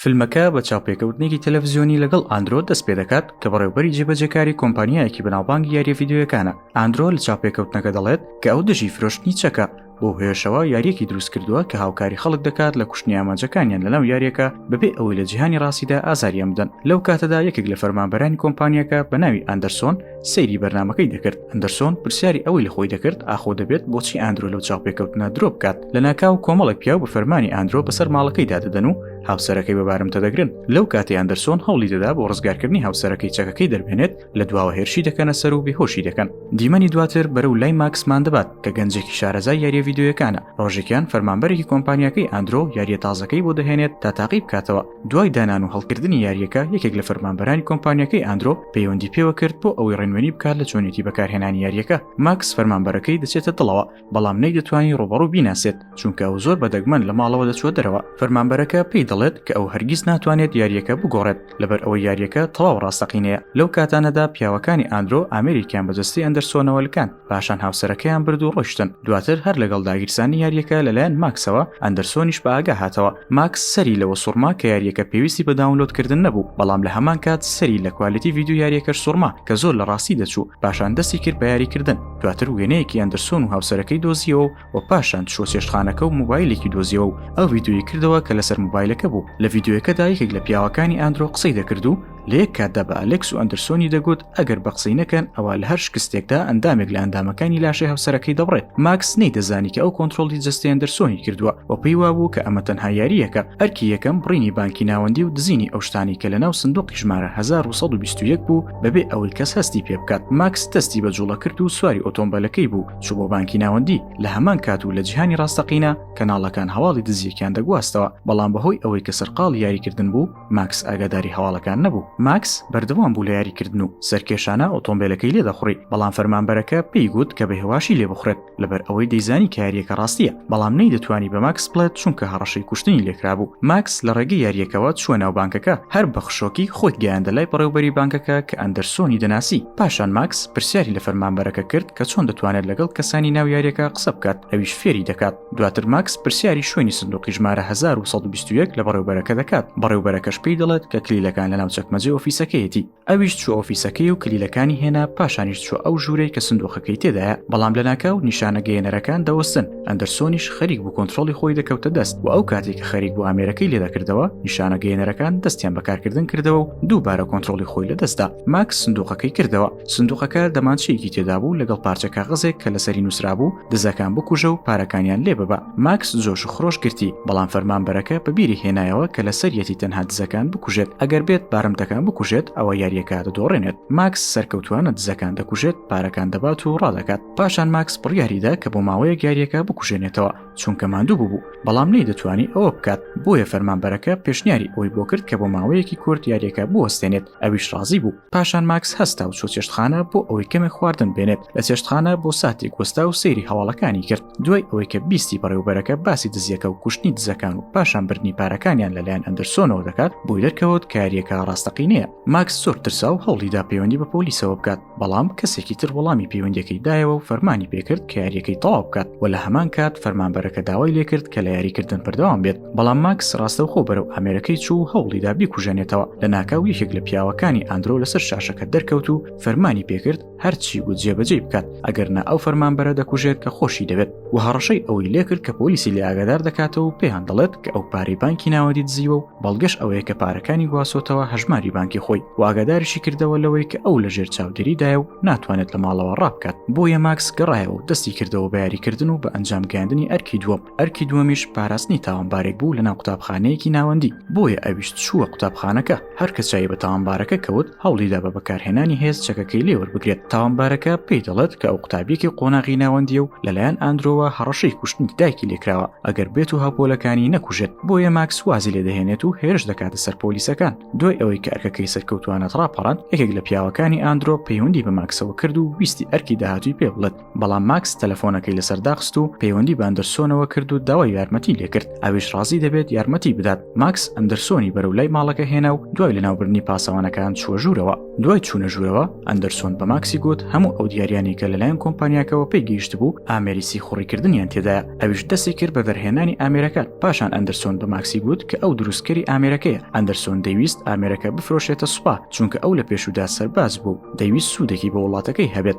فیلمەکە بە چاوپێکەوتنێکی تەلەڤزیۆنی لەگەڵ ئاندرۆ دەست پێ دەکات کە بەڕێوبەری جێبەجێکاری کۆمپانیایەکی بەناوبانگی یاریە ڤیدیۆیەکانە ئاندرۆ لە چاوپێکەوتنەکە دەڵێت کە ئەو دژی فرۆشتنی چەکە بۆ هێشەوە یاریەکی دروست کردووە کە هاوکاری خەڵک دەکات لە کوشتنی ئامانجەکانیان لەناو یاریەکە بەبێ ئەوەی لە جیهانی ڕاستیدا ئازاریان بدەن لەو کاتەدا یەکێک لە فەرمانبەرانی کۆمپانیەکە بە ناوی ئەندەرسۆن سەیری بەرنمەکەی دەکرد ئەندەرسۆن پرسیاری ئەوەی لە خۆی دەکرد ئاخۆ دەبێت بۆچی ئاندرۆ لەو چاوپێکەوتنە درۆ بکات لە ناکاو کۆمەڵێک پیاو بە فەرمانی ئاندرۆ بەسەر ماڵەکەی دادەدەن و هاوسەرەکەی بەبارمتە دەگرن لەو کاتی ئەندەرسۆن هەوڵی دەدا بۆ ڕزگارکردنی هاوسەرەکەی چەکەکەی دەربێنێت لە دواوە هێرشی دەکەنە سەر و بێهۆشی دەکەن دیمەنی دواتر بەرەو لای ماکسمان دەبات کە گەنجێکی شارەزای یاریە یددیوەکانە ڕۆژێکیان فەرمانبەرێکی کۆمپانیەکەی ئەندرۆ یاریە تازەکەی بۆ دەهێنێت تا تاقی بکاتەوە دوای دانان و هەڵکردنی یاریەکە یەکێک لە فەرمانبەرانی کۆمپانیەکەی ئەندرۆ پەیوەندی پێوە کرد بۆ ئەوەی ڕێنوێنی بکات لە چۆنێتی بەکارهێنانی یاریەکە ماکس فەرمانبەرەکەی دەچێتە دڵەوە بەڵام نەی دەتوانانی ڕوبەڕوو بیناسێت چونکە ئەو زۆر بەدەگمەن لە ماڵەوە دەچوە دەرەوە فەرمانبەرەکە پێی دەڵێت کە ئەو هەرگیز ناتوانێت یاریەکە بگۆڕێت لەبەر ئەوە یاریەکە تەواو ڕاستەقینەیە لەو کاتانەدا پیاوەکانی ئەندرۆ ئامریکیان بە جەستەی ئەندەرسۆنەوە لکاند پاشان هاوسەرەکەیان برد و ڕۆشتن دواتر هەر لەگەڵ داگیرسانی یاریەکە لەلایەن ماکسەوە ئەندەرسۆنیش بە ئاگا هاتەوە ماکس سەری لەوە سوڕما کە یاریەکە پێویستی بە داونلۆدکردن نەبوو بەڵام لە هەمان کات سەری لە کوالیتی ڤیددیو یاریەکەش سوڕما کە زۆر لە ڕاستی دەچوو پاشان دەستی کرد بە یاریکردن دواتر وێنەیەکی ئەندەرسۆن و هاوسەرەکەی دۆزیەوە و و پاشان چوە چێشتخانەکە و موبایلێکی دۆزیەوە و ئەو ڤیددیوی کردەوە کە لەسەر موبایلەکە بوو لە ڤیددیوەکەدا یەکێک لە پیاوەکانی ئەندرۆ قسەی دەکرد و لە یەک کاتدا بە ئەلکس و ئەندرسۆنی دەگوت ئەگەر بە قسەی نەکەن ئەوە لە هەر شکستێکدا ئەندامێک لە ئەندامەکانی لاشەی هەوسەرەکەی دەبڕێت ماکس نەی دەزانی کە ئەو کۆنتترۆلی جستێ ئەندرسۆنی کردووە و پێی وابوو کە ئەمە تەنها یاریەکە ئەرکی یەکەم بڕینی بانکی ناوەندی و دزینی ئەو شتانی کە لە ناو سندوقی ژمارە 1920 بوو بەبێ ئەوەی کەس هەستی پێ بکات ماکس دەستی بە جوڵە کرد و سواری ئۆتۆمبەلەکەی بوو چوو بۆ بانکی ناوەندی لە هەمان کات و لە جیهانی ڕاستەقینە کەناڵەکان هەواڵی دزیەکیان دەگواستەوە بەڵام بەهۆی ئەوەی کە سەرقاڵ یاریکردن بوو ماکس ئاگاداری هەواڵەکان نەبوو ماکس بەردەوام بوو لە یاریکردن و سەرکێشانە ئۆتۆمبیلەکەی لێ دەخوڕی بەڵام فەرمانبەرەکە پێی گوت کە بە هێواشی لێ بخورێت لەبەر ئەوەی دەیزانی کاریەکە ڕاستیە بەڵام نەی دەتوانی بە ماکس بڵێت چونکە هەڕەشەی کوشتنی لێکرابوو ماکس لە ڕێگەی یاریەکەەوە چوە ناو بانکەکە هەر بە خشۆکی خۆی گەیاندە لای بەڕێوبەری بانکەکە کە ئەندەرسۆنی دەناسی پاشان ماکس پرسیاری لە فەرمانبەرەکە کرد کە چۆن دەتوانێت لەگەڵ کەسانی ناو یاریەکە قسە بکات ئەویش فێری دەکات دواتر ماکس پرسیاری شوێنی سندوقی ژمارە 1920 لە بەڕێوبەرەکە دەکات بەڕێوبەرەکەش پێی دەڵێت کە کلیلەکان لە ناو چەکمەجێ ئۆفیسەکەیەتی ئەویش چوە ئۆفیسەکەی و کلیلەکانی هێنا پاشانیش چوە ئەو ژوورەی کە سندوقەکەی تێدایە بەڵام لە ناکاو نیشانە گەیەنەرەکان دەوەستن ئەندرسۆنیش خەریک بوو کۆنتترۆلی خۆی دەکەوتە دەست و ئەو کاتێک کە خەریک بۆ ئامێرەکەی لێدەکردەوە نیشانە گەیەنەرەکان دەستیان بەکارکردن کردەوە و دووبارە کۆنتترۆلی خۆی لە دەستدا ماکس سندوقەکەی کردەوە سندوقەکە دەمانچەیەکی تێدا بوو لەگەڵ پارچە کاغزێک کە لەسەری نووسرابوو دزەکان بکوژە و پارەکانیان لێ ببە ماکس زۆش و خرۆش گرتی بەڵام فەرمان بەرەکە بە بیری هێنایەوە کە لە سەریەتی تەنها دزەکان بکوژێت ئەگەر بێت بارمتەکان بکوژێت ئەوە یاریەکە دەدۆڕێنێت ماکس سەرکەوتوانە دزەکان دەکوژێت پارەکان دەبات و ڕادەکات پاشان ماکس بڕیاریدا کە بۆ ماوەیەک یاریەکە بکوژێنێتەوە چونکە ماندوو بوو بەڵام نەی دەتوانی ئەوە بکات بۆیە فەرمانبەرەکە پێشنیاری ئەوی بۆ کرد کە بۆ ماوەیەکی کورت یاریەکە بوەستێنێت ئەویش ڕازی بوو پاشان ماکس هەستا و چۆ چێشتخانە بۆ ئەوەی کەمێک خواردن بێنێت لە چێشتخانە بۆ ساتێک وەستا و سەیری هەواڵەکانی کرد دوای ئەوەی کە بیستی بەڕێوبەرەکە باسی دزیەکە و کوشتنی دزەکان و پاشان بردننی پارەکانیان لەلایەن ئەندرسۆنەوە دەکات بۆی دەرکەوت کاریەکە ڕاستەقینەیە ماکس زۆر ترسا و هەوڵیدا پەیوەندی بە پۆلیسەوە بکات بەڵام کەسێکی تر وەڵامی پەیوەندەکەی دایەوە و فەرمانی پێکرد کە یاریەکەی تەواو بکات و لە هەمان کات فەرمانبەرەکە داوای لێکرد کە لە یاریکردن بەردەوام بێت بەڵام ماکس ڕاستەوخۆ بەرەو ئامێرەکەی چوو و هەوڵیدا بیکوژێنێتەوە لە ناکاو یەکێک لە پیاوەکانی ئەندرۆ لەسەر شاشەکە دەرکەوت و فەرمانی پێکرد هەرچی و جێبەجێ بکات ئەگەر نا ئەو فەرمانبەرە دەکوژێت کە خۆشی دەبێت و هەڕەشەی ئەوەی لێکرد کە پۆلیسی لە ئاگادار دەکاتەوە و پێیان دەڵێت کە ئەو پارەی بانکی ناوەدی دزیوە و بەڵگەش ئەوەیە کە پارەکانی گواسۆتەوە هەژماری بانکی خۆی و ئاگاداریشی کردەوە لەوەی کە ئەو لە ژێر چاودێریدایە و ناتوانێت لە ماڵەوە ڕابکات بۆیە ماکس گەڕایەوە و دەستی کردەوە بە یاریکردن و بە ئەنجام گەاندنی ئەرکی دووەم ئەرکی دووەمیش پاراستنی تاوانبارێک بوو لەناو قوتابخانەیەکی ناوەندی بۆیە ئەویش چووە قوتابخانەکە هەرکە چای بە تاوانبارەکە کەوت هەوڵیدا بە بەکارهێنانی هێز چەکەکەی لێ وەربگرێت تاوانبارەکە پێی دەڵێت کە ئەو قوتابیەکی قۆناغی ناوەندیە و لەلایەن ئاندرۆوە هەڕەشەی کوشتنی دایکی لێکراوە ئەگەر بێت و هاپۆلەکانی نەکوژێت بۆیە ماکس وازی لێ دەهێنێت و هێرش دەکاتە سەر پۆلیسەکان دوای ئەوەی کە ئەرکەکەی سەرکەوتوانە ڕاپەڕاند یەکێک لە پیاوەکانی ئاندرۆ پەیوەندی بە ماکسەوە کرد و ویستی ئەرکی داهاتووی پێ بڵێت بەڵام ماکس تەلەفۆنەکەی لەسەر داخست و پەیوەندی باندرسۆنەوە کرد و داوای یارمەتی لێکرد ئەویش ڕازی دەبێت یارمەتی بدات ماکس ئەندرسۆنی بەرەو لای ماڵەکە هێنا و دوای لەناوبرنی پاسەوانەکان چووە ژوورەوە دوای چوونە ژوورەوە ئەندرسۆن بە ماکسی گوت هەموو ئەو دیاریانی کە لەلایەن کۆمپانیاکەەوە پێی گەیشت بوو ئامێری سیخوڕیکردنیان تێدایە ئەویش دەستی کرد بە دەرهێنانی ئامێرەکان پاشان ئەندرسۆن بە ماکسی گوت کە ئەو دروستکەری ئامێرەکەیە ئەندرسۆن دەویست ئامێرەکە بفرۆشێتە سوپا چونکە ئەو لە پێشودا سەرباز بوو دەویست سوودێکی بە وڵاتەکەی هەبێت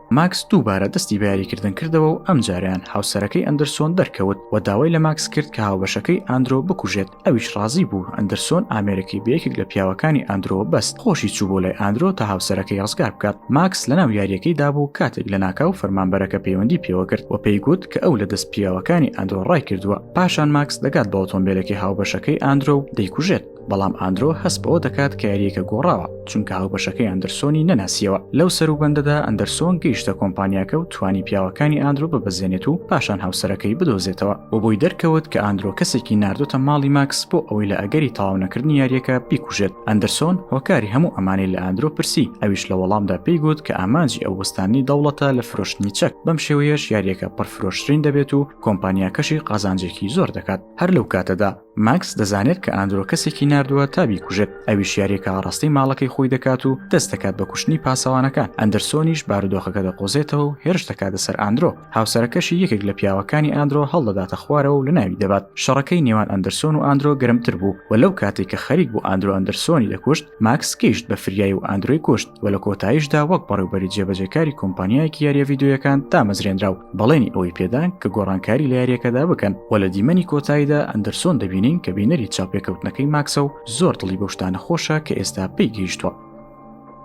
ماکس دووبارە دەستی بەیاریکردن کردەوە و ئەم جاریان هاوسەرەکەی ئەندرسۆن دەرکەوت و داوای لە ماکس کرد کە هاوبەشەکەی ئاندرۆ بکوژێت ئەویش ڕازی بوو ئەندرسۆن ئامێرەکەی بەیەکێک لە پیاوەکانی ئاندرۆ بەست خۆشی چوو بۆ لای ئاندرۆ تا هاوسەرەکەی ڕزگار بکات ماکس لەناو یاریەکەی دابوو کاتێک لە ناکاو فەرمانبەرەکە پەیوەندی پێوە کرد و پێی گوت کە ئەو لە دەست پیاوەکانی ئەندرۆ ڕای کردووە پاشان ماکس دەگات بە ئۆتۆمبیلەکەی هاوبەشەکەی ئاندرۆ و دەیکوژێت بەڵام ئاندرۆ هەست بەوە دەکات کە یاریەکە گۆڕاوە چونکە هاوبەشەکەی ئەندرسۆنی نەناسیەوە لەو سەر و بەندەدا ئەندرسۆن گەیشتە کۆمپانیاکە و توانی پیاوەکانی ئاندرۆ ببەزێنێت و پاشان هاوسەرەکەی بدۆزێتەوە و بۆی دەرکەوت کە ئاندرۆ کەسێکی نردۆتە ماڵی ماکس بۆ ئەوەی لە ئەگەری تاونەکردنی یاریەکە بیکوژێت ئەندرسۆن هۆکاری هەموو ئەمانەی لە ئاندرۆ پرسی ئەویش لە وەڵامدا پێی گوت کە ئامانجی ئەو وەستانی دەوڵەتە لە فرۆشتنی چەک بەم شێوەیەش یاریەکە پڕفرۆشترین دەبێت و کۆمپانیاکەشی قازانجێکی زۆر دەکات هەر لەو کاتەدا ماکس دەزانێت کە ئاندرۆ کەسێکی نردووە تا بیکوژێت ئەویش یاریەکە ئاڕاستەی ماڵەکەی خۆی دەکات و دەست دەکات بە کوشتنی پاسەوانەکان ئەندرسۆنیش بارودۆخەکە دەقۆزێتەوە و هێرش دەکاتە سەر ئاندرۆ هاوسەرەکەشی یەکێک لە پیاوەکانی ئاندرۆ هەڵدەداتە خوارەوە و لە ناوی دەبات شەڕەکەی نێوان ئەندرسۆن و ئاندرۆ گرمتر بوو و لەو کاتێک کە خەریک بوو ئاندرۆ ئەندرسۆنی دەکوشت ماکس گەیشت بە فریای و ئەندرۆی کوشت و لە کۆتاییشدا وەک بەڕێوبەری جێبەجێکاری کۆمپانیایەکی یاریە ڤیددیویەکان دامەزرێنرا و بەڵێنی ئەوەی پێدان کە گۆڕانکاری لە یاریەکەدا بکەن و لە دیمەنی کۆتاییدا ئەندرسۆن دەبینین کە بینەری چاوپێکەوتنەکەی ماکسە و زۆر دڵی بەو شتانە خۆشە کە ئێستا پێی گەیشتووە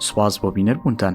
سوپاس بۆ بینەربوونتان